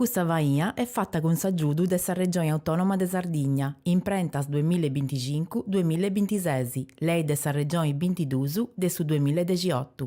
Custa faina est fata cun s'agiudu de sa Regioni Autònoma de Sardigna, Imprentas duamilla e binticincu, duamilla e bintises, Lei de sa Regioni bintiduus de su duamilla e dexiotu.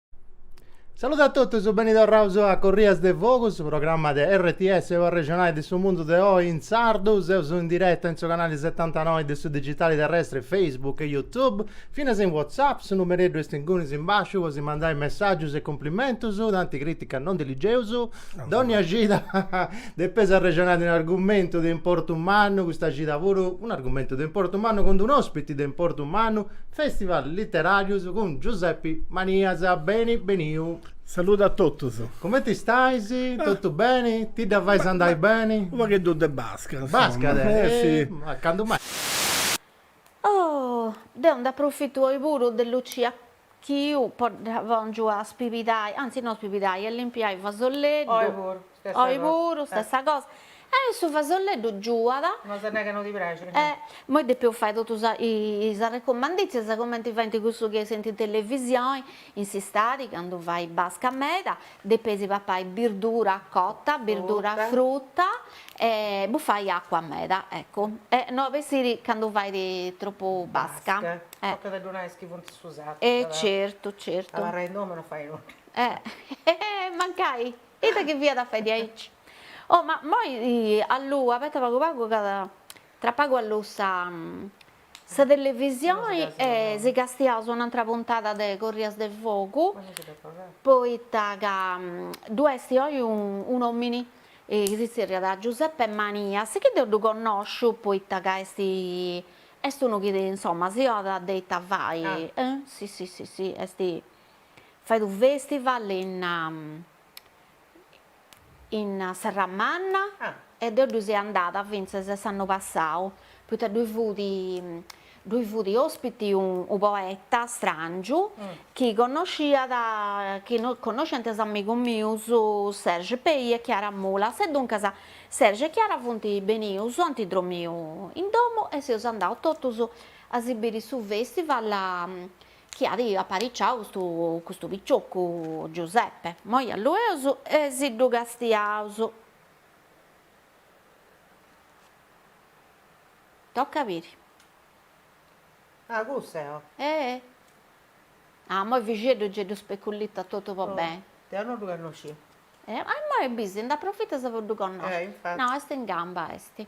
Saludu a totus, beni torraus a Corrias de Fogu, su programma de RTS po arrexonai de su mundu de oi in sardu. Seus in diretta in su canali setantanoi de su digitali terrestri Facebook e YouTube, finas in WhatsApp, su numereddu est ingunis in basciu po si mandai messàgius e cumplimentus, tanti crìticas non ndi ligeus, dònnia cida depeus arrexonai de un'argumentu de importu mannu, custa cida puru, un'argumentu de importu mannu cun d'un'ospiti de importu mannu, Festival Literarius cun Giuseppi Manias, beni beniu. Saludu a totus. Comenti stais? Totu beni? Ti dda fais andai beni? U' pagheddu de basca, insoma. Basca, eh! Candu mai. Oh! Deu nd'aprufittu oi puru de Lucia chi oi dda pòngiu a spibidai, anzi no spibidai, a limpiai fasolleddu. Oi puru, stessa cosa. Oi puru, stessa cosa. E su fasolleddu giuat. No si nerit ca no ti praxit. E moi depeus fai totus is arrecumandìtzias cumenti faint cussus chi essint in televisioni, in s'istadi candu fait basca meda, Depeis papai birdura cota, birdura fruta e bufai acua meda, eccu, e no a bessiri candu fait tropu basca. Basca, tocat a ddu nai a is chi funt in su sartu. E certu, certu. Abarrai in domu e no fai nudda. Eh, mancai, ita chi fiat a fai diaici. Oh, ma moi alluu, abeta pagu pagu, ca tra pagu alluu sa Sa televisioni si castiaus un'antra puntada de Corrias de Fogu poita ca ddu est oi un'omini chi si zerriat Giuseppe Manias chi deu ddu connosciu poita ca est est unu chi insomma si donat de ita fai si si si si est fait u' festival in in Serramanna e deo ddui seu andada fintzes s'annu passau, poita ddoi fut ddoi fut ospiti unu poeta strangiu chi connosciat chi connosciant is amigus mius Serge Pey e Chiara Mulas e duncas Serge e Chiara funt benius e ant dromiu in domu e seus andaus totus a si biri su festival chi at apariciau custu custu picioccu Giuseppe, moi allueus e si ddu castiaus. Toca a biri. Ah cussa eo. Eeh. Ah moi Fixeddu gei ddu speculitat totu po beni. Deu no ddu connoscia. E immoi bisi nd'aprofitas po ddu connosci. Eh infati. No est in gamba est.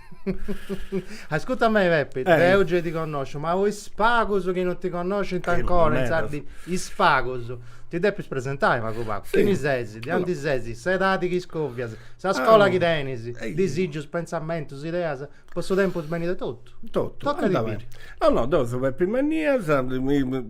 Ascurta a mei Peppi, eh. deu gei ti connòsciu, ma is pagus chi non ti connoscint ancora, in sardi, is pagus. Ti deppis presentai pagu pagu. Sì. Chini sesi, de aundi sesi, s'edadi chi iscovias, sa ah. scola chi tenis, Ehi. disigius, pensamentus, ideas, po su tempus benidori totu. Totu. Totu. Tocat a biri. No no, deu seu Peppi Manias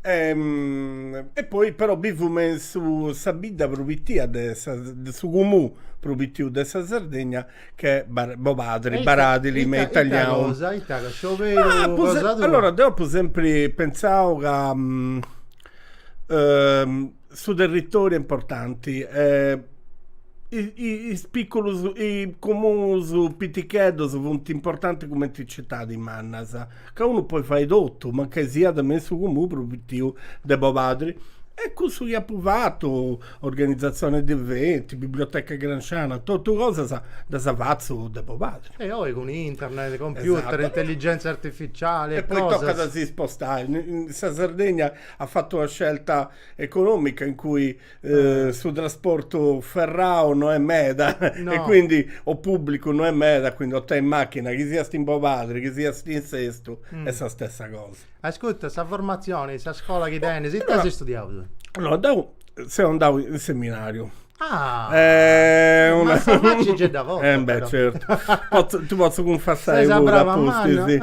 E poi però bivu me su sa bidda prus pitia de sa de su cumunu prus pitiu de sa Sardegna chi est Bobadri Baradili me italianu. Ita cosa ita cosa scioberu cosa tua. Allora deu apu sempri pentzau ca su territoriu est importanti e is piculus is cumunus piticheddus funt importanti cumenti is citadis mannas. ca unu poi fai totu, mancai siat me in su comunu prus pitiu de Bobadri. E cussu chi apu fatu, organizatzione de eventi, biblioteca gramsciana, totu cosas ddas fatzu de Bobadri. E oi cun internet, computer, intelligenzia artificiali e cosas. E poi tocat a si spostai. Sa Sardegna at fatu una scelta economica in cui Eh, su trasportu ferrau no est meda no. e quindi o pubblicu no est meda, quindi o tenis macchina chi siast in Bobadri, chi siast in Sestu, mm. est sa stessa cosa. Ascolta, sa formazione, sa scola chi tenis, ita as studiau? No, deu seu andau in seminariu. Ah, eh, una... ma c'è da volta, eh, beh, certo. Ti potzu cunfessai puru, sì.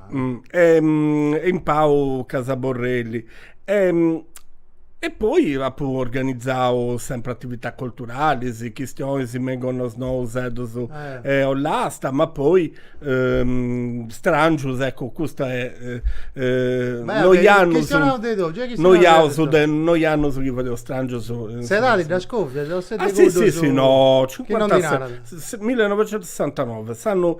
e in Pau Casa Borrelli e poi apu organizau sempri atividadis culturalis, chistionis me in Gonnosnò, Useddus e Ollasta, ma poi strangius, ecco custa est noi annus, noi annus noi annus chi fadeus strangius. S'edadi dda scovias o seti cuddu su. Ah si si si no, millinovecentusessantanove, s'annu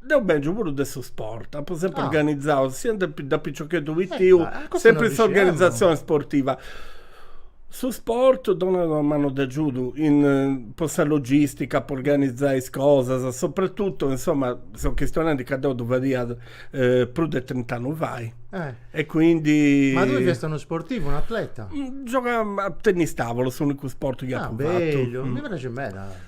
Deu bèngiu puru de su sport, apu sempri Ah. organizau, sia de pi- da piciocheddu Eh, pitiu, ma custu sempri non sa ddu s'organizatzioni sportiva. Su sport donat una manu de agiudu in po sa logistica, po organizai is cosas, soprattuttu, insomma, seu chistionendi ca deu ddu fadia prus de trint'annus fai Eh. e quindi Ma tui fiast unu sportivu, un'atleta? Giogà a tennis tavolo, s'unicu sport chi Ah, apu fatu. bellu, mi praxit meda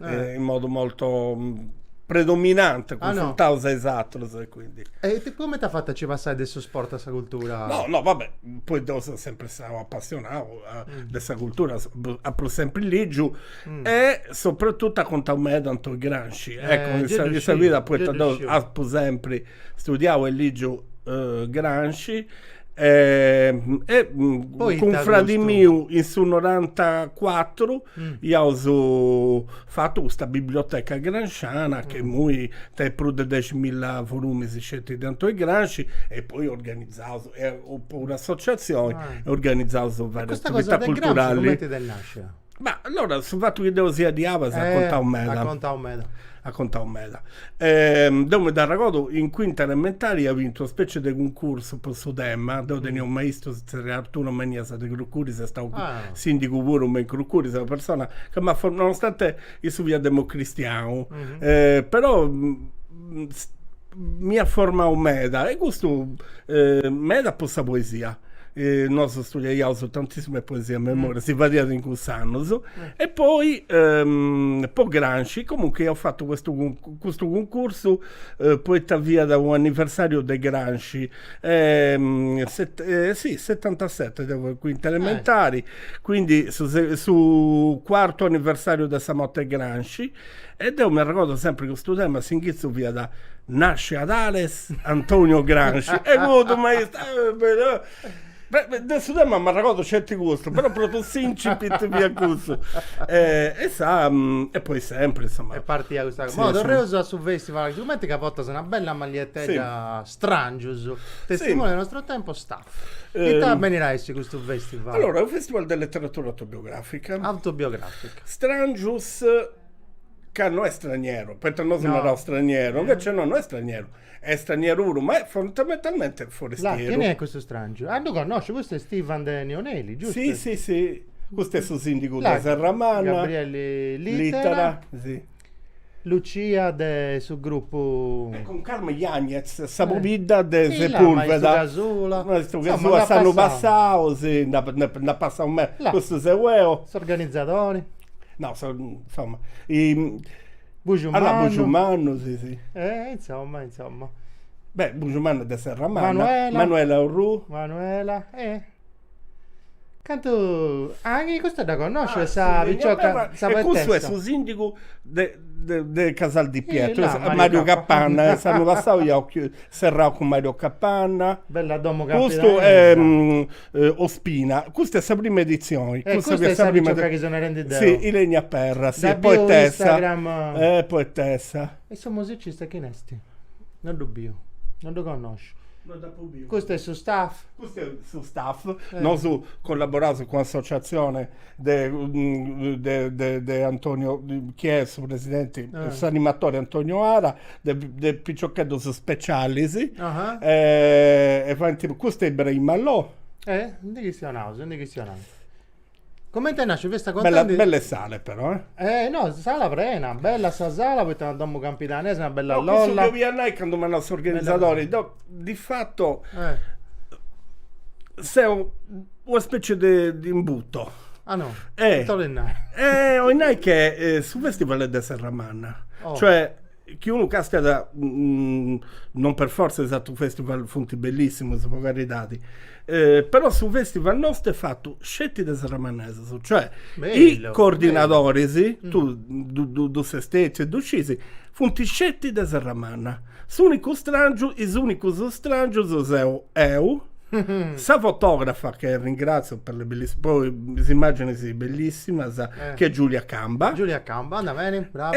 in modu molto predominante cunfruntaus a is atrus e quindi. E cumenti as fatu a nci passai de su sport a sa cultura? No, no, va bè, poi deu seu sempri stau apassionau de sa cultura, apu sempri ligiu e soprattutto at contau meda Antoni Gramsci, ecco in sa vida, poita deu apu sempri Studiau e lìgiu Gramsci e cun fradi miu in su norantacuatru iaus fatu custa biblioteca gramsciana chi imui tenit prus de deximilla volumis sceti de Antoni Gramsci e poi organizaus est puru un'associatzioni e organizaus varie attività culturali. E custa cosa de Gramsci cumenti t'est nascia? Ma allora su fatu chi deu sia de Abas at contau meda. At contau meda. At contau meda. Deu mi dd'arregordu in cuinta elementari ia bintu una specie de cuncursu po su tema, deu tenia unu maistu si zerriat Arturo Manias de Crucuris, est stau sindigu puru me in Crucuris, una persona ca m'at for nonostante issu fiat democristianu però m'iat formau meda e custu meda po sa poesia Nosu studiaiaus tantissime poesie a memoria, si fadiat in cuss'annus, e poi po Gramsci comunque iaus fatu custu custu cuncursu poita fiat u' anniversariu de Gramsci e e sì setantaseti deu fia in cuinta elementari, quindi su su cuartu anniversariu de sa morti 'e Gramsci E deu m'arregordo sempri custu tema, s'inghitzu fiat, Nasce ad Ales Antonio Gramsci, e cuddu maistu. De su tema m'arregordo sceti custu, però pròpriu s'incipit fiat cussu. E sa, e poi sempri, insoma. Est partia custa cosa. Boh, torreus a su festival, sigumenti ca portas una bella magliettedda Strangius, testimoni del nostro tempo, Staff. Ita benit a essi custu festival? Allora, est unu festival de letteratura autobiografica. Autobiografica. Strangius ca no est straniero, poita nosu naraus straniero, invece no, no est straniero, est straniero puru, ma est fondamentalmente forestieru. Là, chini est custu strangiu? Ah, ddu connosciu, custu est Ivan de Neoneli, giustu? Sì, sì, sì, custu est su sindigu de Serramanna. Gabriele Littera. Littera, sì. Lucia de su gruppu... E cun Carmen Yañez, sa pobidda de Sepulveda. Maistu Casula. Maistu Casula, s'annu passau, sì, nd'at passau meda, custu seu eo. S'organizadori. No, insomma, i... Bujumannu. Allora, Bujumannu, sì, sì. Eh, insomma, insomma. Beh, Bujumannu de Serramanna. Manuela. Manuela Orrù. Manuela, eh. Cantu... Anche custa dda connosciu, ah, sa sì, picciocca, sa E custu est su sindigu de, de, de Casal di Pietro, eh, Mario, Mario Capanna, e s'annu passau iaus serrau cun Mario Capanna. Bella domo Custu è... Ospina, custa est sa prima edizioni. Eh custa est sa picioca chi so narendi deo. Si, Ilenia Perra, Dda bio in Instagram. Eh poetessa. E su musicista chini est? No ddu biu, no ddu connosciu. No dd'apu biu. Custu est su staff? Custu est su staff, nosu collaboraus cun associatzioni de de de Antonio, chi est su presidenti, s'animatori Antonio Ara, de piciocheddus specialis e faint custa e Ibrahima Lo. E ndi chistionaus, ndi chistionaus. Comente nascit? Festa contenti? Bella bella 'e sale però eh. Eh no, sala prena, bella sa sala poita una domu campidanesa, una bella lolla. No, cussu chi 'olia nai candu m'at nau s'organizadori, deu di fatu seu una specie de de imbuto. Ah no? Eh. Ita 'olit nai? Eh 'olit nai che su festival est de Serramanna, cioè chiunque cascat non per forza is atrus festival funt bellissimus po caridadi però su festival nostu est fatu sceti de serramannesus cioè is coordinadoris tu ddu stetiu e ddu scisi funt sceti de serramanna s'unicu strangiu is unicus strangius seu eu sa fotografa che ringrazio per le belliss po is immagines bellissimas che est Giulia Camba Giulia Camba andat beni brava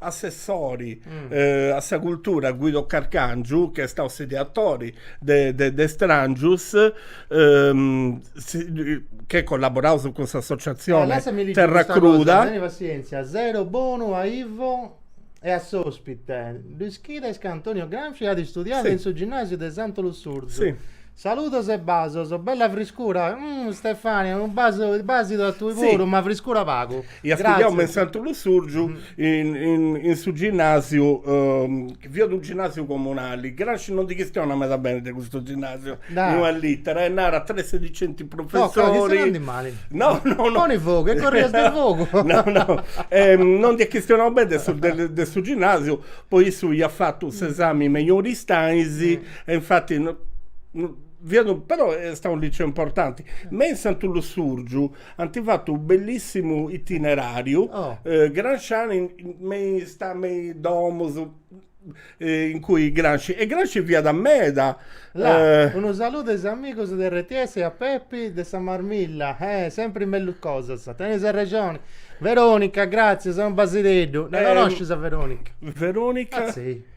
Assessori a sa cultura Guido Carcàngiu chi est stau s'ideatori de Stràngius e collaboraus cun s'associatzione Terra Cruda Teni passièntzia, sero bonu a Ivo e a s'òspite. Lu ischides ca Antonio Gramsci at istudiadu in su ginnàsiu de Santu Lussurzu? Saludos e basos, bella friscura, umm Stefania unu basu basidu a tui puru, ma friscura pagu. Iat studiau me in Santu Lussurgiu in su ginnasiu chi fiat unu ginnasiu comunali, Gramsci non ndi chistiona meda beni de custu ginnasiu, in una littera e narat tre sedicenti professori, no no no, poni fogu e corrias de fogu, no no non ndi at chistionau beni de su ginnasiu poi issu iat fatu s'esami mejori istais E infatti no, no, fiat, però est stau unu liceu importanti. Me in Santu Lussùrgiu ant fatu unu bellissimu itineràriu, oh. eh, gramsciani, me is me is domus, eh, in cui Gramsci, e Gramsci fiat meda. La, eh, unu saludu a is amigus de RTS e a Pepi de sa Marmilla, eh, sempri mellus cosas, tenis arrexoni. Veronica, gratzias, unu basideddu. La eh, conoscis a Veronica? Veronica? Ah, sì.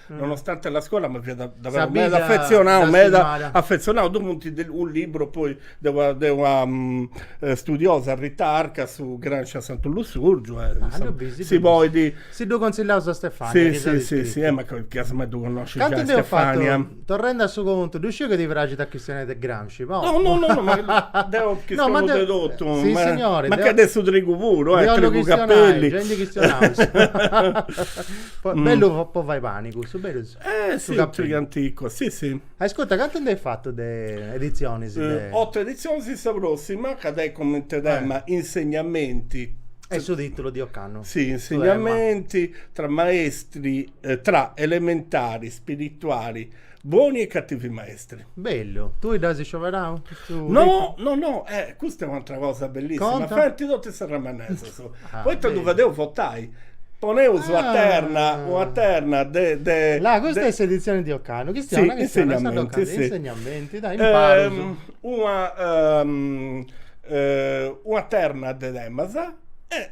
nonostante la scuola ma fiat davvero meda affezionau, meda affezionau, ddoe funti unu liburu poi de una, de una mm, studiosa Rita Arca su Gramsci a Santu Lussurgiu e Ah, ddu bisi, si podit, si ddu consillaus a Stefania chi s'at iscritu. Si si si, eh mancai mai ddu connoscit giai Stefania. Cantu deu fatu, torrendu a su contu, ddu sciu chi ti praxit a chistionai de Gramsci Scici po. No no no ma deu chi no, ma de totu. Si signori. Ma che de su trigu puru, eh, trigu Cappelli. Deu ndi chistionaus. Bellu po fai pani cussu, berus? Eh si, su trigu anticu, si si. Ascurta, cantu nd'eis fatu de editzionis de. Otu editzionis sì, sa prossima ca tenit cumenti tema insegnamenti. Est su titulu di ocannu. Si, insegnamenti tra maestri, tra elementari, spirituali. Buoni e cattivi maestri. Bellu, tui dd'as scioberau custu No, titulu? no, no, eh, custa est un'atra cosa bellissima, Conta. faint totu is serramanesus, Ah, poita ddu bellu. fadeus votai, poneus una Ah. terna, una terna de de Là, custa de- est s'editzioni di ocannu, chi Sì, insegnamenti, sì. insegnamenti, dai, imparus. una una terna de temas e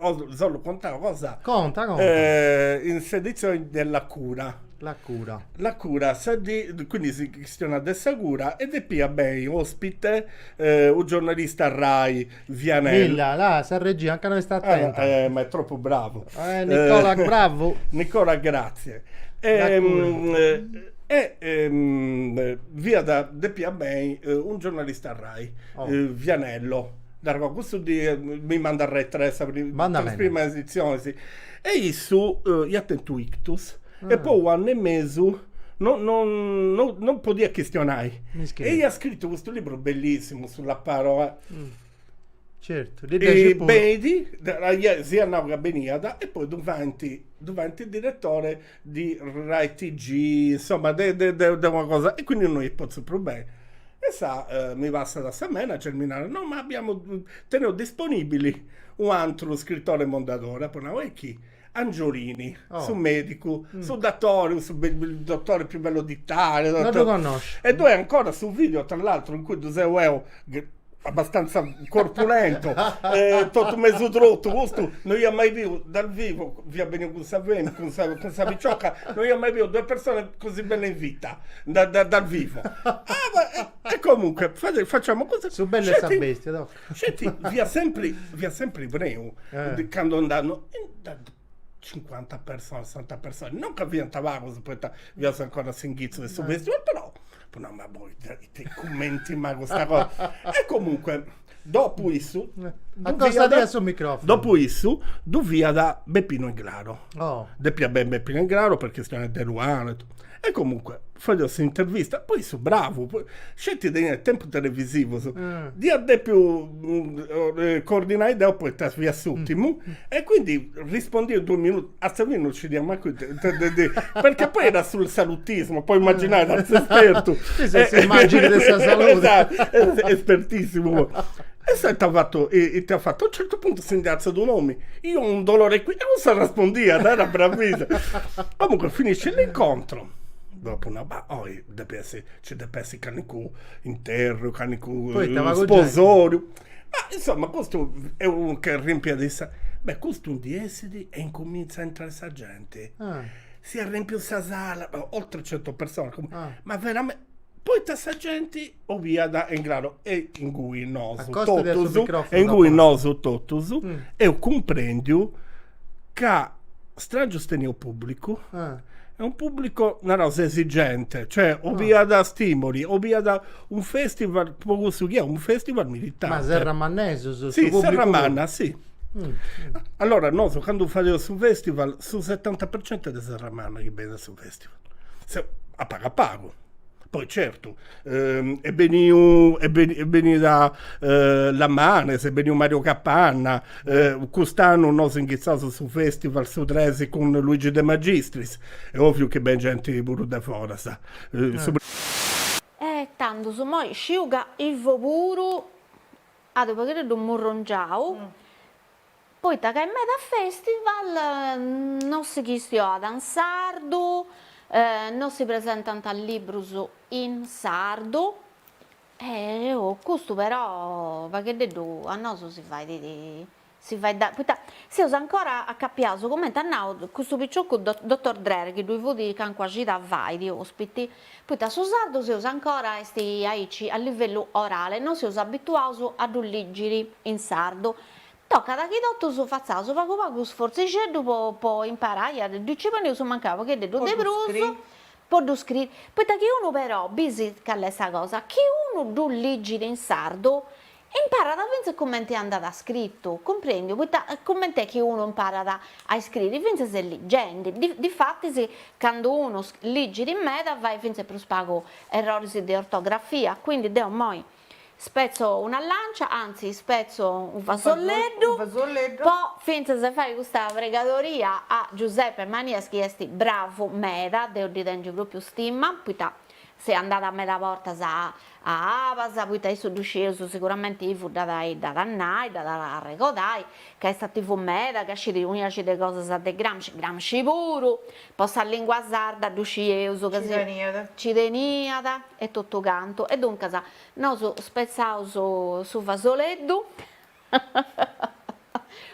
Os solu contau cosa. Conta, conta. Eh, in s'edizioni de La Cura. La Cura. La Cura, sa dì, quindi si chistionat de sa cura e depiat bei ospite eh, u giornalista Rai, Vianello. Milla, là, sa regia ancana no est attenta. Ah, eh, ma è troppu bravu. Eh, Nicola, bravu. Nicola, grazie. E, mm, e ehm, fiat, depiat bei un giornalista Rai, oh. Vianello. Naru, custu mi mandat retrè sa prima edizioni, si. E issu iat tentu ictus e po unu annu e mesu no no no podiat chistionai. E iat scritu custu liburu bellissimu, sulla parola. Certu, ddi praxit puru. Benit, si iat nau ca beniat e poi ddu faint, ddu faint direttore di Rai TG, insomma de, de, de, de una cosa, e quindi non li pozzo più bene. E sa eh, mi passat a sa manager, mi narat, no ma abbiamo, teneus disponibili un'antru scrittore mondadore, apo nau, e chi? Angiorini, oh. su medicu, mm. su dattore, su be- il dottore più bello d'Italia. Dottore... Non lo conosco. E due ancora su video, tra l'altro, in cui tu sei eu, abbastanza corpulento, eh, totu mesu trotu, custu no ia mai biu dal vivo, fiat beniu cun sa femi, cun sa, cun sa picioca, no ia mai biu due persone così belle in vita, da, da, dal vivo. Ah, ma, e, e comunque, fade, facciamo così. Su bellu e sa Sceti- bestia, no? Sceti, fiat sempri, fiat sempri preu, Eh. de- candu andàt, no, in- da- cincuanta personas, sessanta personas, non ca fiant pagus poita fiaus ancora a s'inghitzu de su festival, però apu nau, ma poita cumenti mai custa cosa. E comunque dopu issu Accostadi a su microfonu. Dopu issu ddu fiat Beppino Englaro. Oh. Depiat benni Beppino Englaro po chistioni de Eluana e totu E comunque, fadeus s'intervista, poi issu bravu, sceti teniat tempus televisivus, dd'ia depiu coordinai deu poita fia s'ùrtimu, e quindi rispondiat in duus minutus, a sa fini non nci dd'ia mancu intendi, perchè poi era sul salutismo, podis imaginai tanti s'espertu. Questa è s'immagine de sa salute. Espertissimu. E s'est fatu, ita at fatu, a u' certu puntu si ndi artzat un'omini, Io ho un dolore qui. E cussu arrespondiat, era bravissimo. Comunque finisce l'incontro, dopo una ba- oi depiat essi, nci depiat essi calincunu interru, calincunu Poita pagu genti. sposoriu. Ma insomma custu est unu che rimpiat is, beh custu ndi essit e incuminzat a intrai sa genti. Ah. Si arrempiu sa sala, oltre centu personas, Ah. ma verame- poita sa genti 'oviat e in craru e ingui nosu, e ingui nosu totus eus cumprendiu ca Strangius teniat pubblicu e unu pubblicu naraus esigente cioè 'oviat stimoli 'oviat unu festival po cussu chi est unu festival militante ma serramannesus su pubblicu puru? si serramanna si allora nosu candu fadeus su festival su setanta per cento est de serramanna chi benit a su festival a pagu a pagu Poi certu est beniu est beni est benida Lamanes, est beniu Mario Capanna, cust'annu nos inghizaus su festival su tres cun Luigi de Magistris, est oviu chi beni genti puru de foras. E tandus immoi sciu ca Ivo puru at u' paghereddus murrongiau. Poita ca in meda festival no si chistioat in sardu, no si presentant librus in sardu custu però pagheddeddu a nosu si fait si fait poita seus ancora acapiaus cumenti at nau custu picioccu dottor Dreher chi ddui fut calincuna cida fait ospiti, poita su sardu seus ancora est aici a livellu orale, no seus abituaus a ddu lìgiri in sardu Tocat chi totus fatzaus pagu pagu sfortzixeddu po imparai a ddu ligi po ndi eus mancai u paghededdu de prus po ddu scriri, poita chi unu però, bisi cali est sa cosa, chi unu ddu ligit in sardu imparat fintzas cumenti andat scritu, cumprendiu, poita cumenti est chi unu imparat a iscriri, fintzas ligendi, difatis candu unu ligit meda fait fintzas prus pagu erroris de ortografia, quindi deu imoi Spetzo una lancia, anzi ispetzo unu fasolleddu po fintzas de fai custa pregadoria a Giuseppe Manias chi est bravu meda, deo ddi tèngio pròpiu stima, poita ses andada meda bortas a Abas, poita issu ddu scieus siguramenti chi fut, dd'at a nai, dd'at a arregodai, ca est ativu meda, ca scit unu sciacu 'e cosas de Gramsci, Gramsci puru, po sa lìngua sarda ddu scieus ca si, nci teniat, e totocantu, e duncas nos spetzaus su fasoleddu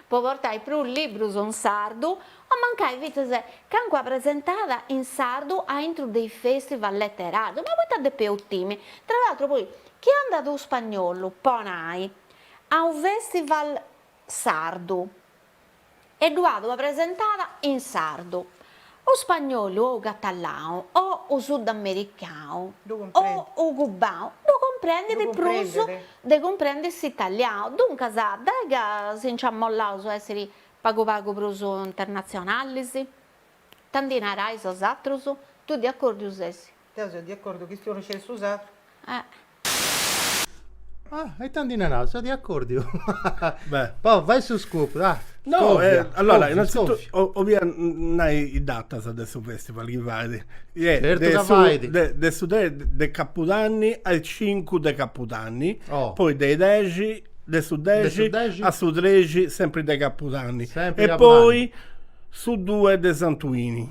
po portai prus librus in sardu, o mancai fintzas calincuna presentada in sardu aintru de is festival leteràrius, ma poita depeus timi? Tra l'atru poi, chi andat unu spagnolu po nai a unu festival sardu, e ddu at ua presentada in sardu, u spagnolu o u catalau o u sudamericau o u cubau ddu cumprendit prus de cumprendi s'italiau, duncas dai ca si nci ammollaus a essiri pagu pagu prus internatzionalis? 'Ta ndi narais 'osatrus? Tui de accordiu ses? Deu seu de acordu chistionu sceti su sardu. Ah. Ah, e tandi narat, seu de acordiu. Beh. Poi fai su scoop, dai. No, Scòvia, eh, allora, covia, innanzitutto scòvia. o- ovia n- nai is datas de su festival chi fait. Ie, Certu de ca su- fait. de- de su tres de capudanni a is cincu de capudanni, Oh. poi de i dexi, de su De dexi su dexi. a su trexi sempri de capudanni Sempri e capudanni. poi su due de santuini.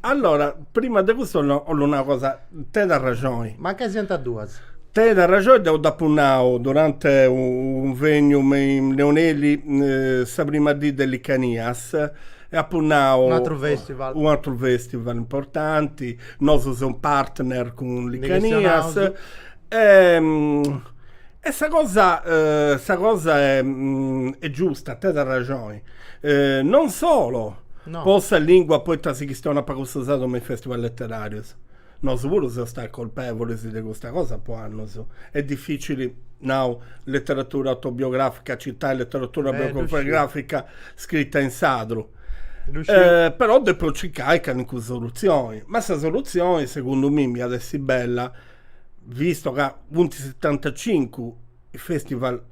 Allora, prima de custu 'ollu nai una cosa, tenit arraxoni. Mancai siant duas. Tenit arraxoni, deu dd'apu nau durante unu cunvegnu me in Neoneli sa prima dì de Licanias e apu nau. Un'atru festival. Un'atru festival importanti, nosu seus partner cun Licanias. Ndi chistionaus. E sa cosa sa cosa est giusta, tenit arraxoni, non solo po sa lìngua, poita si chistionat pagu su sardu me is fèstival leteràrius, nosu puru seus stai colpèvulis de custa cosa po annus, est dificili, nau, leteratura autobiogràfica, citai leteratura autobiogràfica scrita in sardu, però depu circai calincuna solutzioni, ma sa solutzioni segundu mimi iat essi bella visto ca funt setantacincu is festival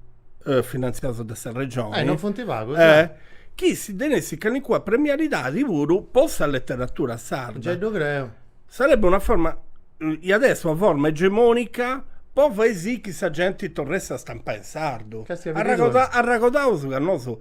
eh, finanziaus de sa regione. Eh, non funt pagus, eh, eh. chi si tenessit calincuna premialidadi puru po sa leteratura sarda. Giai ddu creu. Sarebbe una forma, eh, iat essi una forma egemonica po fai sì chi sa genti torressit a stampai in sardu. Ca est Arragoda- arragodaus ca nosu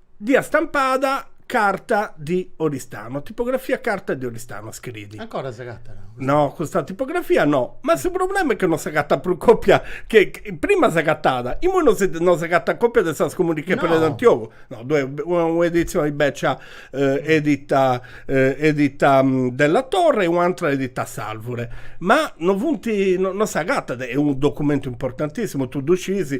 Dd'iat stampada Carta di Oristano, tipografia Carta di Oristano, scriit. Ancora s'agatat? No, custa tipografia no, ma su problema est chi no s'agatat prus còpia, chi prima s'agatàt, imoi no si no s'agatat còpia de Sa scomùniga de Predi Antiogu. No, ddoi est una un'editzioni bècia edita edita Della Torre e un'atra edita S'Alvure, ma no funt no no s'agatat, est unu documentu importantissimu, tui ddu sciis,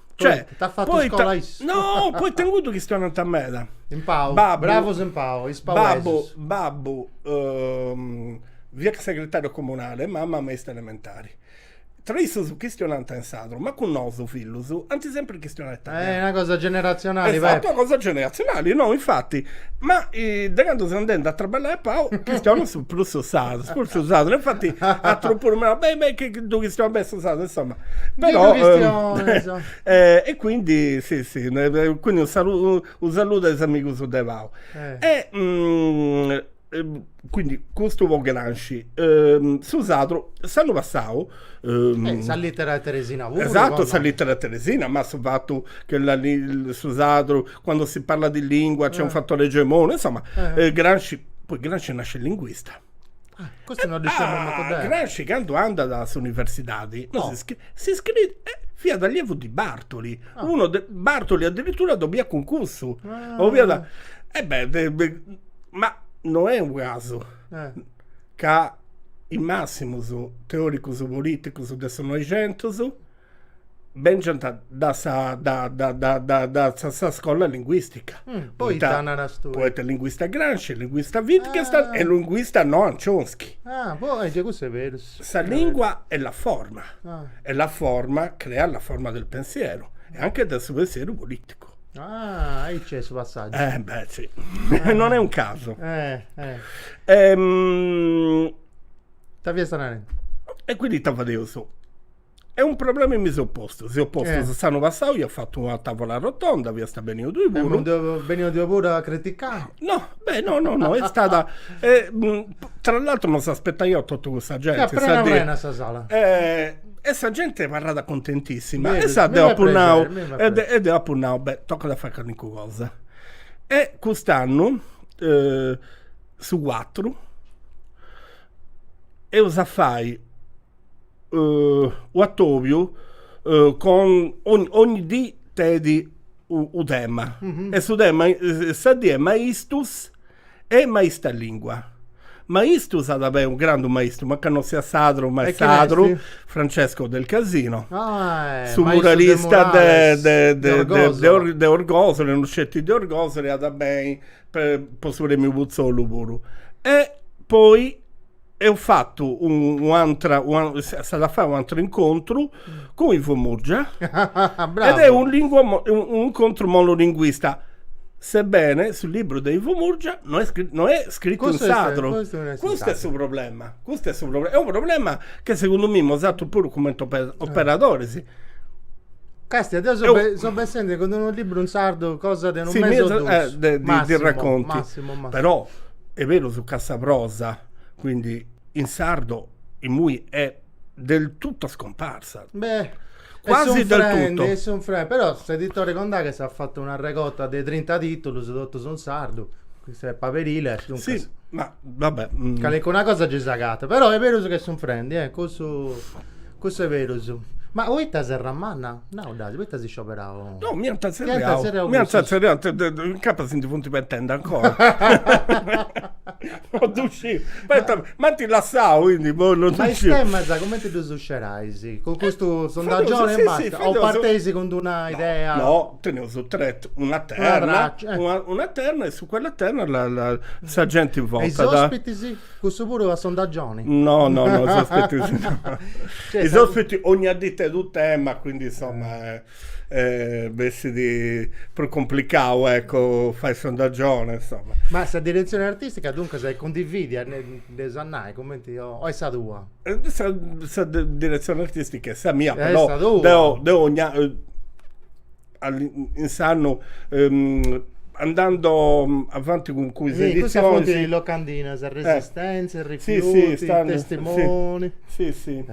Cioè, t'at fatu poi scola issu. No, poi tengo avuto chistionant meda. In Pau, babbo, bravo in Pau, is Babbo, babbo, um, fiat segretario comunale, mamma maista elementare. Tra issus chistionant in sadru, ma cun nosu fillus ant sempri chistionau italianu. È una cosa generazionale, Esatto, una cosa generazionale, no, infatti, ma eh, de candu seu andendi a traballai a Pau, chistionu su, prus su sadru, prus su sadru, infatti, atrus puru m'ant nau, beh, beh, chi, chi ddu chistionu beni su sadru, insomma. Però, e quindi sì sì quindi unu saludu a is amigus de Pau e quindi custu po Gramsci su sadru s'annu passau sa littera a Teresina puru esatto sa littera a Teresina ma su fatu che la su sadru quando si parla di lingua c'è un fattore egemone insomma Gramsci poi Gramsci nasce linguista Ah, questo non diciamo ah, manco Gramsci candu andat a s'universidade no. si, si iscrit eh, fiat allievo di Bartoli ah. uno de, Bartoli addirittura dobiat concurso ah. o fiat e eh beh, de, de, ma non è un caso eh. ca is massimus teoricus politicus de su 900 Bèngiant dae sa dae sa scola linguìstica. Poita naras tue? Poita linguista Gramsci, linguista Wittgenstein e linguista Noam Chomsky. Ah, boh, eja custu est berus. Sa lìngua è la forma, e la forma creat la forma del pensiero e anche de su pensieru polìticu. Ah, aici est su passàgiu. Eh beh, sì. Non è un caso. Ita fiasta narendi? E quindi ita fadeus? E un problema mi seu postu, seu postu eh. s'annu passau iat fatu una tavola rotonda, fiasta beniu tui puru. E non beniu tui puru a criticai? No, beh, no, no, no, est stada e, tra l'altro non s'aspettaiaus totu custa genti. Fiat prena prena sa sala. E e sa genti abarrat contentissima e sa deu apu nau e de e deu apu nau, beh, tocat a fai calincuna cosa. E cust'annu su cuatru eus a fai U'atòbiu con ogni dì tenit unu tema e su tema sa dì est maistus e maista lìngua. Maistus at a beni unu grandu maistu, mancai no siat sadru ma est sadru, Francesco Del Casino, su muralista de de Orgosole, no sceti de Orgosole, at a beni po su premiu Putzolu puru. E poi Eo fattu un'antra, s'at a fai un'antru incontru cun Ivo Murgia ed è un incontru monolinguista, sebbene su libru de Ivo Murgia no est no est scrittu in sadru, custu est su problema, custu est su problema, est unu problema chi segundu mei nosatrus puru cumenti operadoris. Castia, deu seu bessendi cun unu libru in sardu cosa de unu mesi o dus, massimu, massimu, massimu. est berus ca sa prosa, quindi in sardo, imui è del tutto scomparsa. Beh, quasi del tutto. Est sunfrendi, però s'editore Condaghes at fatu una regota de trinta titulus, totus in sardu, custa est Paberiles, duncas. Sì, ma va bè. Calincuna cosa gei s'agatat, però est berus ca est sunfrendi, cussu Cussu est berus. Ma poita Serramanna? Nau dd'asi, poita asi scioberau? No, mi ant tzerriau. tzerriau Mi ant cussus. tzerriau, incapas si ndi funt pentendi ancora. No ddu sciu. Poita m'ant lassau, quindi po no ddu Ma is sciu. temas cumenti ddus scerais? Cun custu sondaggioni e basta? O parteis cun d'una idea? No, teneus tre, una terna, una terna e su quella terna la la sa genti votat. E is ospitis? Cussu puru a sondagioni? No no no is ospitis no. Is ospitis ogna dì tenit unu tema quindi insomma bessit prus cumplicau ecco fai sondagioni insomma. Ma sa diretzioni artistica duncas cundividia dd'eus a nai cumenti o est sa tua? Sa diretzioni artistica est sa mia però deu deu ogna in s'annu andando avanti cun is editzionis si custas funt is locandinas resistentzia rifiuti testimoni si si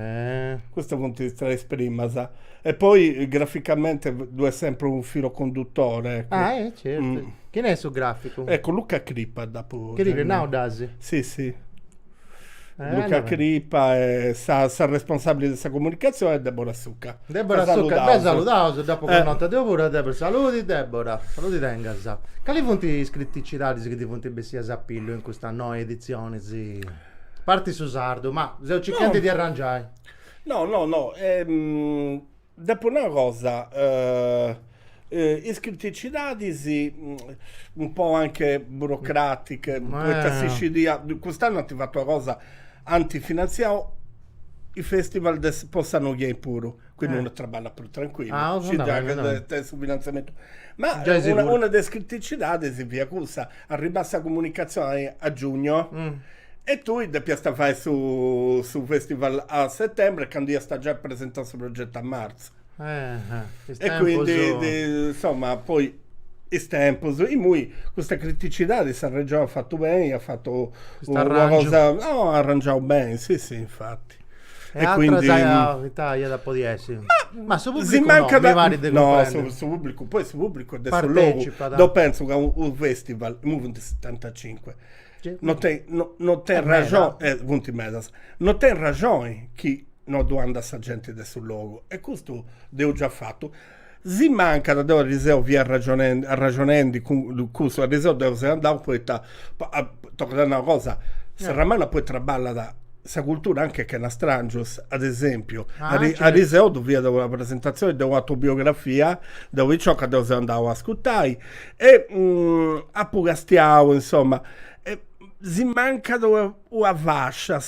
custas funt is tres primas e poi graficamente ddu est sempri unu filo conduttore ah eh certu chini est su graficu eccu Luca Crippa dd'apu giai nau dd'asi si si Luca Crippa e sa responsabile de sa comunicazione est Debora Succa. Debora Succa, dda saludaus, dd'apo connota deu puru a Debora, saludi Debora, saludi tengas. Cali funt is criticidadis chi ti funt bessias a pillu in custa noa editzioni, a parti su sardu, ma seu circhendi de arrangiai. No no no Depo nai una cosa, is criticidadis un po anche burocratiche, poita si scidia, cust'annu ant fatu una cosa, ant finanziau is festival de po sa noghe puru, quindi unu traballat prus tranquillu, scidia chi tenit su finanziamentu. Ma una de is criticidadis fiat cussa, arribat sa comunicazioni a giugno, E tui depiast a fai su su festival a settembre candu iast giai presentau su progettu a martzu. Eh, is tempus. E quindi insomma poi is tempus, imui custa criticidadi sa Regioni at fatu beni, at fatu Custu una arrangiu. cosa, no, arrangiau beni, si si infati. E atras ita iat a podi essi? Ma su pubblicu si mancat no, mi parit de cumprendi. No,. su su pubblicu, poi su pubblicu est de su logu, Partecipat. deu pentzu ca u- unu festival, imui funt setantacincu No tenit no no tenit rajone funt medas, no tenit rajone chi no ddu andat sa genti de su logu e custu dd'eus già fatu, si mancat deu arriseu fia arraxonendi arraxonendi cun cussu, arriseu deu seu andau poita tocat a nai una cosa, Serramanna poi traballat sa cultura anche chena strangius, ad esempiu arriseu ddu fia una presentazioni de un'autobiografia de una picioca deu seu andau a ascurtai E apu castiau, insoma, si mancat una fascia.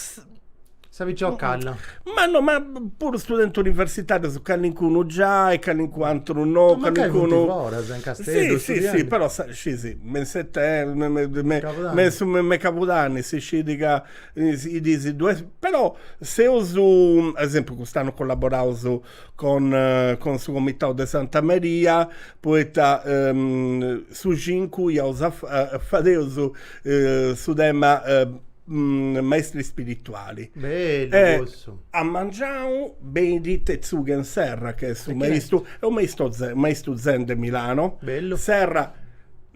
Sa picioccadda. Ma no, ma puru studentis universitarius, calincunu giai, calincunu ateru no. Ma mancai funt foras, in Casteddu, studiendi. Si, si, però scìs, me in setembru, me in cabudanni si scit ca is diis duas, però seus, ad esempiu cust'annu collaboraus cun cun su comitau de Santa Maria poita su cincu iaus a fadeus su tema maestri spirituali. Bellu cussu. A mengianu benit Tetsugen Serra, chi est su maistu, est u maistu zen, maistu zen de Milano. Bellu. Serra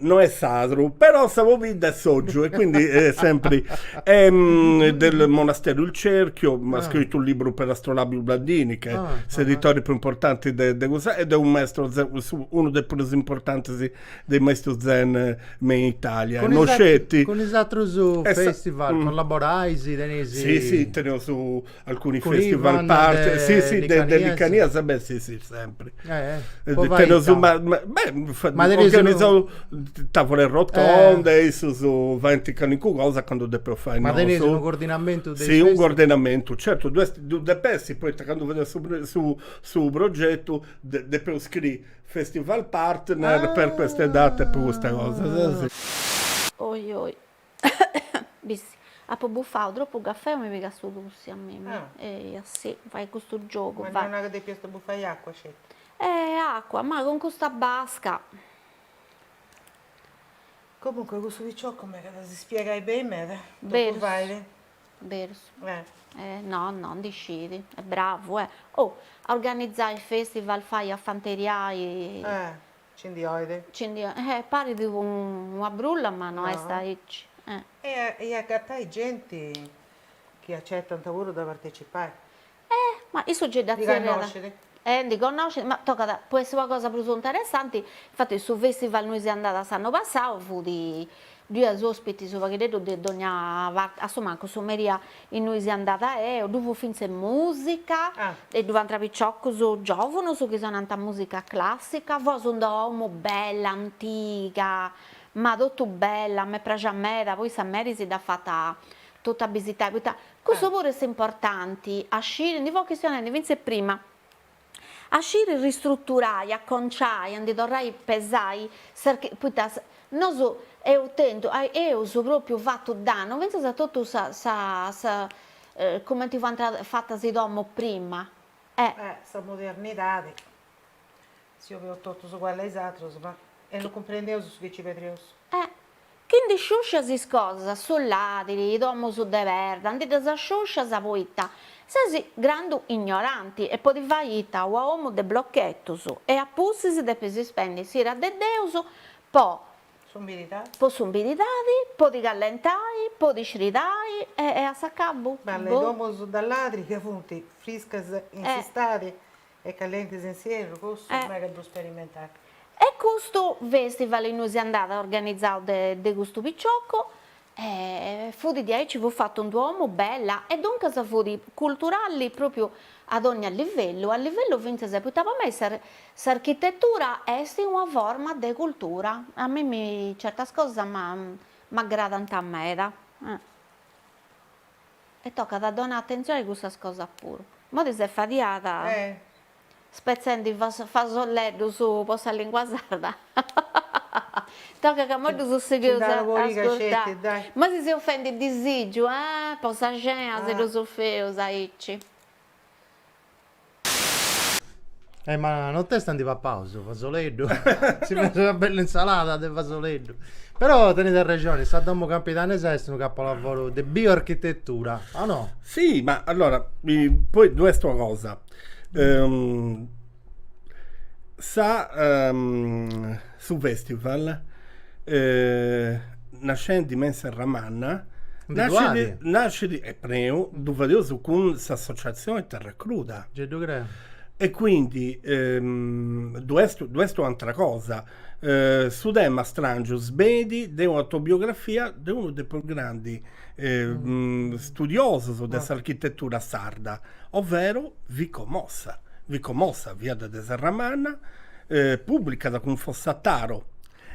no est sadru, però sa pobidda est Soggiu e quindi sempri del monastero Il Cerchio at scritu unu liburu per Astrolabio Ubaldini ch'est s'editori più importanti de de cussa ed è unu maestro zen unu de is prus importantis de is maistus zen me in Italia e no sceti cun is atrus festival collaborais teneis si si teneus Alcuni festival partner, si si de Licanias e beh si si sempre. Eh, eh. Teneus ma beh organizau tavole rotonde, issus faint calincuna cosa candu depeus fai nosu. Ma teneis unu cordinamentu de is festival? Si, unu cordinamentu, certu ddu est, ddu depet essi poita candu fadeus su su progetu depeus scriri festival partner per queste date, po custa cosa. Oi oi Bissi, apo bufau tropu cafè o mi pigat su tussi a mimi. Ah. Eia, si, fait custu giogu, fait. Ma non nara depiast bufai acua sceti. Eh, acua, ma cun custa basca. Comunque cussu picioccu mi at a s'ispiegai beni meda, totu fait. Berus. Eh. Eh, no, no, ndi scit, est bravu, eh. Oh, a organizai festivals, fai a fanteriai. Eh. Ci ndi 'oit? Ci ndi 'oit, eh, parit una brulla ma no est aici, eh. E agatai genti chi acetant puru de partecipai. Eh, ma issu gei dda zerriat. Ndi connoscit? Eh, ndi connoscit, ma tocat, po essi una cosa prus interessanti, infatis su festival innui seu andada s'annu passau fut Ddu iat ospitis u paghideddu de dogna parte, a su mancu su merì ainnui seu andada eo, ddu fut fintzes musica e ddu fuant piciocus giovunus chi sonant musica classica, fut in d-una domu bella antiga, ma totu bella, m'est praxia meda, poi sa Mary si dd'at fata totu bisitai, poita cussu puru est importanti a sciri, ndi fui chistionendi fintzes prima A sciri ristruturai, a conciai, a ndi torrai pesai sas chi, poita nosu eus tentu, eus propriu fatu dannu fintzas a totu sa sa sa cumenti fuant fatas is domus prima e. Eh sa modernidadi, si 'oviaus totus ugualli a is atrus, ma e no cumprendiaus su chi ci perdiaus. Eh Chi ndi sciuscias is cosas, su ladiri, i domus de perda, ndi ddas sciuscias poita ses grandu ignoranti e podis fai ita ua omu de blochetus e a pustis depis ispendi s'ira de Deus po po s'umbiridadi, po ti callentai, po ti sridai e a s'acabu, boh. Bellas i domus de ladri ca funt friscas in s'istadi E calienti s'inzierru cussu mega ddu sperimentat. E custu festival innui si nd'at organizau de custu piciocu e fut de aici fut fatu in d-una domu bella e duncas fut culturali propriu a dogna livellu, a livellu fintzas poita po mei s'architetura est una forma de cultura, a mimmi certas cosas m'aggradant meda. E tocat a donai atentzioni a cussas cosas puru. Modi ses fadiada spetzendi fasolleddus po sa lingua sarda? Tocat ca mo ddus sigheus a ascurtai. Modi ses fendi disìgiu, ah, po sa cena si ddus fadeus aici. Eh, ma nontesta ndi pappaus fasoleddu? si fait una bella insalada de fasoleddu. Però tenit arrexoni, sa domo campidanesa est unu capolavoro de bioarchitetura, o no? Sì, ma allora, poi ddu est una cosa, sa Su festival, nascendi me in Serramanna, nascit e perou ddu fadeus cun s'associatzioni Terracruda. Ge ddu creu. E quindi ddu est ddu est u'antra cosa. Su tema strangius benit de un'autobiografia de unu de prus grandi studiosus de s'architetura sarda, overo Vico Mossa. Vico Mossa fiat de Serramanna, pùblicat cun Fossataro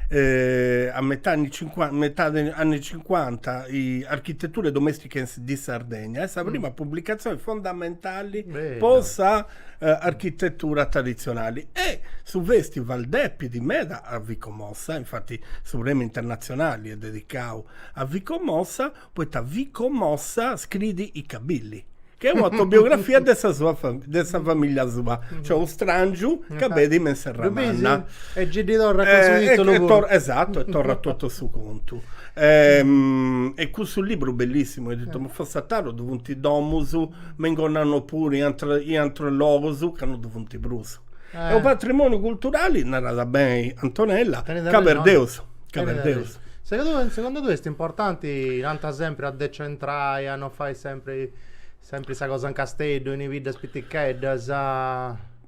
a metade de anni cincuanta Architetture Domestiche di Sardegna, est sa prima pubblicazione fondamentali po sa architetura traditzionali e su festival depit meda a Vico Mossa, infati su premi internatzionali est dedicau A Vico Mossa poita Vico Mossa scriit I Cabilli chi est un'autobiografia de sa sua de sa familia sua cioè unu strangiu ca benit me in Serramanna e gei ddi torrat cun su titulu puru esatto e torrat totu su contu e cussu liburu bellissimu editu de Fossataro ddu funt domus me in Gonnano puru in in aterus logus ca no ddu funt prus e u patrimoniu culturali narat beni Antonella ca perdeus Ca perdeus. Segundu tui est importanti, tanti sempri a decentrai, a no fai sempri sempri sa cosa in Casteddu, in is biddas piticheddas?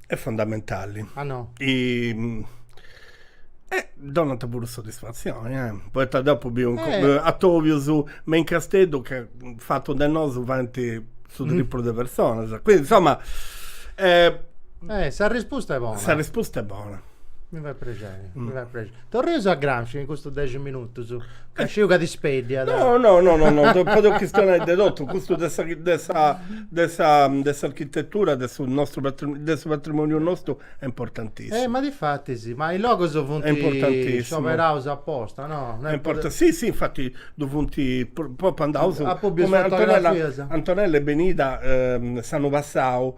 Est fundamentali. Ah no. Eh, donant puru soddisfatzioni, eh. Poita deu apu biu atobius me in Casteddu ca fatu de nosu fiant su triplu de personas. Quindi, insoma, eh. Eh, s'arrispusta est bona. S'arrispusta est bona. Mi fait prexeri, mi fait prexeri. Torreus a Gramsci in custus dexi minutus, ca sciu ca t'ispeddiat. No, no, no, no, no, po deu chistionai de totu, custu de sa de sa de sa de s'architetura de su nostru de su patrimoniu nostru est importantissimu. Eh, ma difatis, ma is logus funt scioperaus aposta, no? No est po de. Si, si, infati ddu funt, po pròpiu andaus. Antonella est benida s'annu passau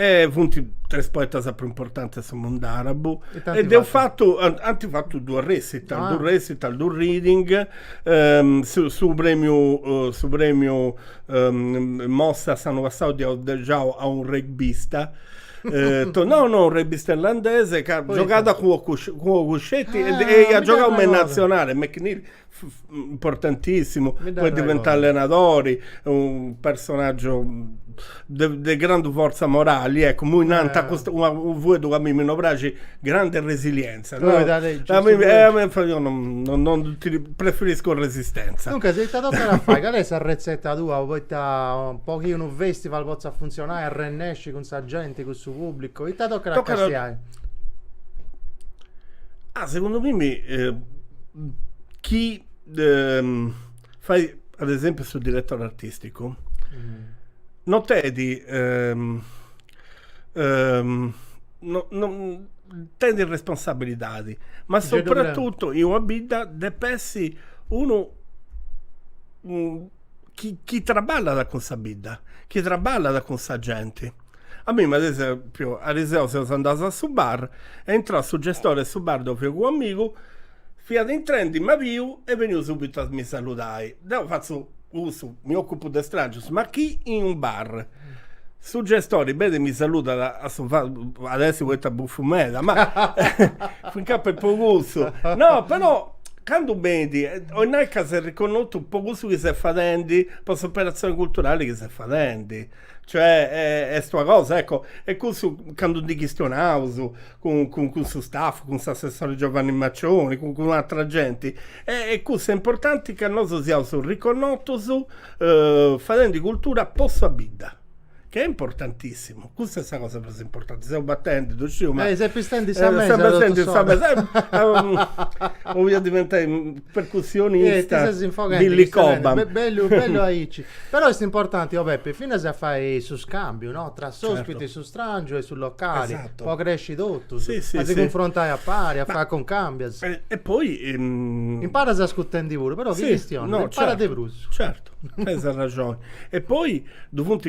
E funt tres poetas prus importantis de su mundu àrabu. E deus fatu, ant fatu duus recital, duus recital, duus reading, su premiu, su premiu Mossa s'annu passau dd'eus donau a unu regbista, no no, unu regbista irlandese ca giogat cun Cuscetti e iat giogau in natzionali, McNeil importantissimu poi diventau allenadori unu personaggio de grandu forza morali ecco immoi nant custu unu fueddu ca a mimmi no praxit grande resilienza no preferisco resistenza duncas si ita tocat a fai cali est sa retzeta tua poita po chi unu festival potzat funtzionai arrennesci cun sa genti cun su publicu ita tocat a castiai Ah segundu mimmi chi fait ad esempiu su direttori artisticu no tenit no no tenit responsabilidadi ma soprattuttu in una bidda dep'essi unu chi chi traballat cun sa bidda, chi traballat cun sa genti. A mimmi ad esempiu, ariseo seus andaus a su bar, est intrau su gestore 'e su bar deu fio cun amigu, fiat intrendi m'at biu, est beniu subitu a mi saludai. Deu fatzu cussu, mi occupu de strangius, ma chi in un bar Su gestori benit, mi saludat a su fattu, at essi poita bufu meda, ma finca po po cussu, no però candu benit, 'olit nai ca ses riconnotu po cussu chi ses fadendi, po s'operatzioni culturali chi ses fadendi, cioè est una cosa, ecco, e cussu candu ndi chistionaus cun cun cun su staff, cun s'assessore Giovanni Maccioni, cun cun atra genti, e e cussa est importanti ca nosu siaus riconnotus fadendi cultura po sa bidda, ca est importantissimu, cussa est sa cosa prus importanti, seus batendi, ddu sciu, ma, ses pistendi sa mesa, ses pistendi sa mesa, 'olia diventai percussionista, ti ses infoghendi, Billy Cobham, e bellu bellu aici, però est importanti, o Peppe, finas a fai su scambiu, no, tra s'ospiti, su strangiu e su locali, totu. Po cresci totus. Si, si. A si cunfrontai a pari, a fai concambias. E poi. Imparas ascurtendi puru, però chi chistionat, imparat de prus. Certu, tenis arraxoni. E poi ddu funt,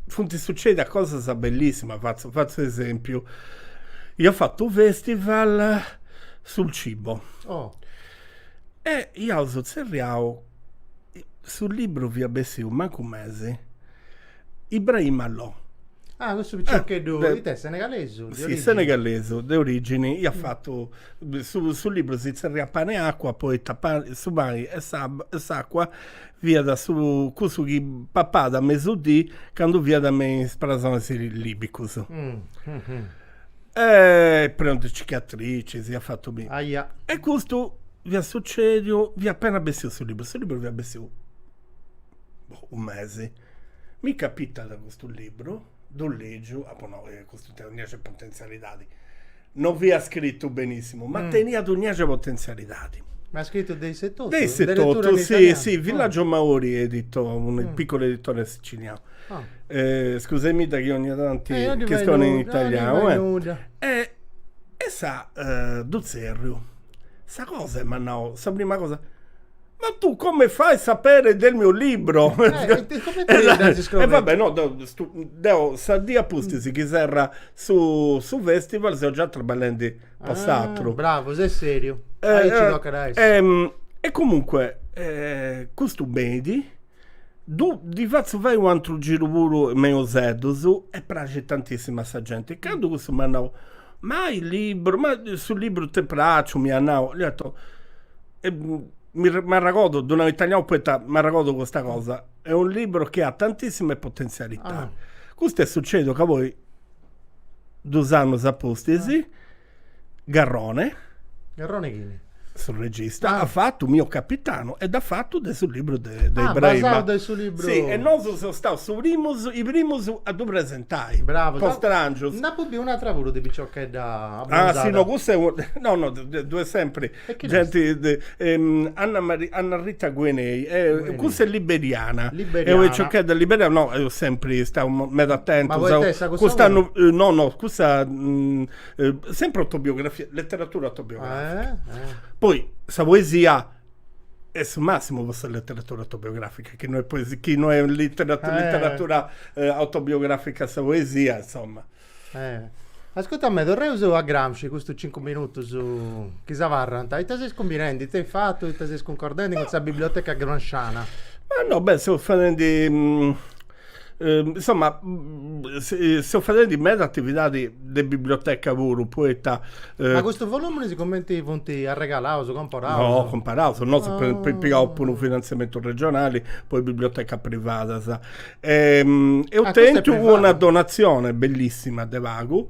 funt sucedias cosas bellissimas, fatzu, fatzu esempiu, ia fatu u' festival sul cibo. Oh. E iaus tzerriau, su libru fiat bessiu mancu mesi Ibrahima Lo. Ah, cussu piccioccheddu, it'est, senegalesu? Si, senegalesu, de origini, iat fatu, su libru si tzerriat Pane e acqua poita su pani e s'acqua fiat su cussu chi papàt a mesudì candu fiat me is presonis libicus. E prenu de cicatricis, iat fatu mi. Aia. E custu fiat sucediu, fiat appena bessiu su libru, su libru fiat bessiu boh, unu mesi, mi capitat custu libru, ddu ligiu, apo nau, eh, custu tenit unu de potenzialidadi, non fiat scritu benissimu, ma teniat unu biaxi de potenzialidadi. Ma scritu de issu etotu? De issu etotu, si, si, Villaggio Maori editor, unu piccolo editore sicilianu. Scusamidda chi ogni tanti chistionu in italianu, eh. E sa, ddu tzerriu, sa cosa est, m'at nau, sa prima cosa Ma tu come fai a sapere del mio libro? Eh, e comente e ddas is crònicas? E va bè, no, deu, stu, deu sa dì a pustis chi serrat su su festival seu già traballendi po s'atru. Bravo, ses seriu. Aici ci tocat a essi. E comunque custu benit, ddu ddi fatzu fai u' atru giru puru me in Useddus e praxit tantissimu a sa genti. Candu cussu m'at nau, ma is liburus, ma su liburu t'est pràxiu, m'iat nau, dd'ia 'otu, m'arragodu, ddu nau in italianu poita m'arragodu custa cosa, è un libro che ha tantissime potenzialità. Custu est sucediu ca poi dus annus a pustis Garrone, Garrone chini? su regista, at fatu Mio capitano e dd'at fatu de su liburu de Ibrahim. Ah, basau de su liburu. Si, e nosu seus staus su primus, is primus a ddu presentai. Bravu. Po Stràngius. Nd'apu biu un'atra puru de piciochedda abbronzada. Ah si no cussa est, no no ddu est sempri Genti de Anna Maria Anna Rita Gehnyei cussa est liberiana eo e piciochedda liberiana no seu sempri istau meda atentu cust'annu no no cussa sempri autobiografia letteratura autobiografica poi sa poesia est su massimu po sa letteratura autobiografica chi no est chi no est letteratura autobiografica sa poesia insomma Ascurta me, torreus a Gramsci, custus cincu minutus chi si abarrant, ita seis cumbinendi, ita est fatu, ita seis cuncordendi cun sa biblioteca gramsciana? Ma no, beh, seus fadendi, insoma, seus fadendi meda atividadi de biblioteca puru, poita. Ma custus voluminis cumenti funt arregalaus, comparaus? No, comparaus, nosu eus pigau puru u' finantziamentu regionali po is bibliotecas privadas Ehm, eu Ah, tentu una donatzione bellissima de pagu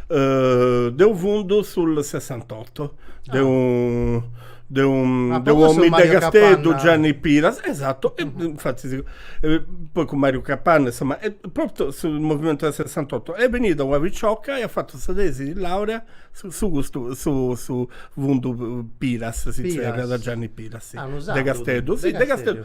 eh, de u fundu sul sessantotto de u de u Ah, de po cussu u'omini de Casteddu, Mario Capanna. Gianni Piras, esatto, e infatti eh, poi cun Mariu Capanna, insomma, propriu sul movimentu del sessantotto, est benida una picioca e at fatu sa tesi de laurea su su custu su su fundu Piras, si zerriat Gianni Piras, si, Ah, unu sardu, de Casteddu, si, de Casteddu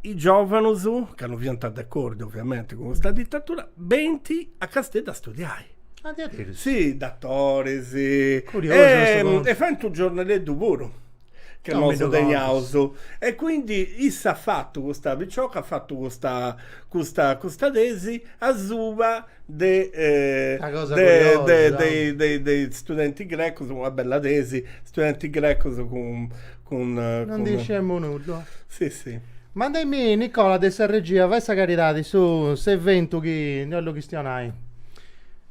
is giòvanus, ca no fiant d'acordi ovviamente cun custa ditatura, benint a Casteddu a studiai. Addirittura? Si, datoris. Curiosu custu contu. E faint unu giornaleddu puru, ca nosu teniaus. E quindi issa at fatu, custa picioca at fatu custa custa custa tesi asuba de Una cosa curiosa. de is studentis grecus, una bella tesi, studentis grecus cun Non ndi isciemmo nudda. Si si. Mandaimi Nicola de sa regia, fai sa caridadi, su s'eventu chi ndi ollu chistionai.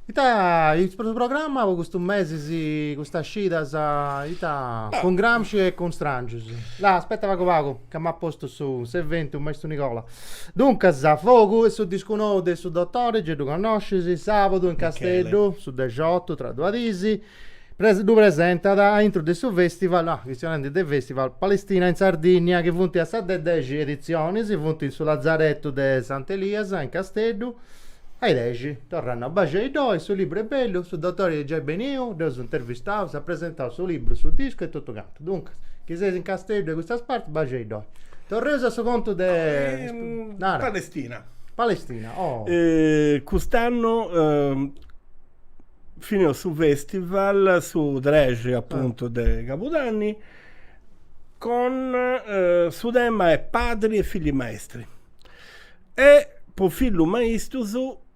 Ita est su programma po custu mesi si custas scidas ita cun Gramsci e cun Strangius. Là aspetta pagu pagu ca m'at postu su s'eventu maistu Nicola. Duncas Fogu est su discu nou de su Dotori, gei ddu connoscis, sabadu in Casteddu su dexiotu tra duas disi. ddu presentat a intro de su festival, chistionendi de festival, Palestina in Sardinnia chi funt a sa de dexi editzionis, funt in su Lazaretu de Sant'Elias in Casteddu, dexi, torrant, no, baxi a iddoi, su libru est bellu, su dotori est giai beniu, dd'eus intervistaus, at presentau su libru, su discu e totu cantu, duncas, chi seis in Casteddu e custas partis baxi a iddoi. Torreus a su contu de, nara. Palestina. Palestina, oh. Cust'annu fineus su festival su trexi apuntu de cabudanni cun su tema est padri e figli maestri e po fillus maistus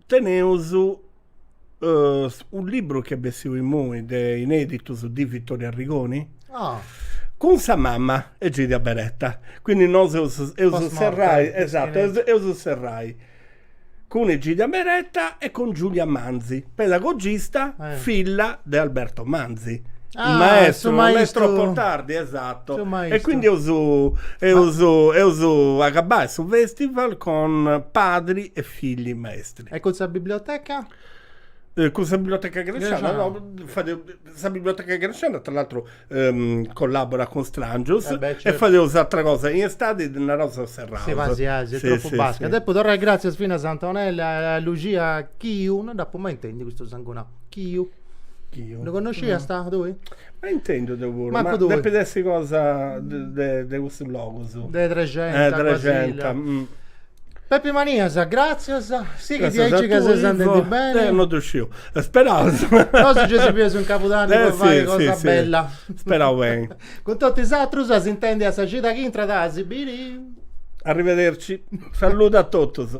teneus u' libru chi est bessiu imui de ineditus di Vittorio Arrigoni cun sa mama Egidia Beretta quindi nosu eus eus serrai esatto eus eus serrai cun Egidia Beretta e cun Giulia Manzi, pedagogista, filla de Alberto Manzi, su maestru, non è mai troppo tardi, esatto, e quindi eus agabbau su festival cun padri e figli maestri. E cun sa biblioteca? Cun sa biblioteca gramsciana, no, sa biblioteca gramsciana tra l'altro ehm, collaborat cun Strangius eh e fadeus atra cosa in istadi naraus seus serraus. Si fait aici, est tropu basca. Depu torrai gratzias finas a Antonella e a Luxia Chiu, no ddu apu mai intendiu custu sangunau, Chiu. Chiu. Ddu connosciast tui? Mai intendiu deu puru, ma depit essi cosa de custus logus. De Trexenta, Trexenta. Peppe Manias, gràtzias, sighi aici ca ses andendi beni. Non ddu sciu, speraus. Nosu gei si bieus in Cabudanni po fai cosa bella. Speraus beni. Cun totu is atrus a s'intendi a sa cida chi intrat a si biri. Arrivederci. Salludu a totus.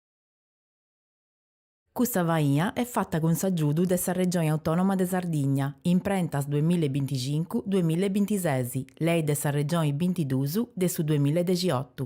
Custa faina est fata cun s'agiudu de sa Regioni Autònoma de Sardigna, Imprentas duemilla e binticincu, duemilla e bintises, Lei de sa Regioni bintiduus de su duemilla e dexiotu.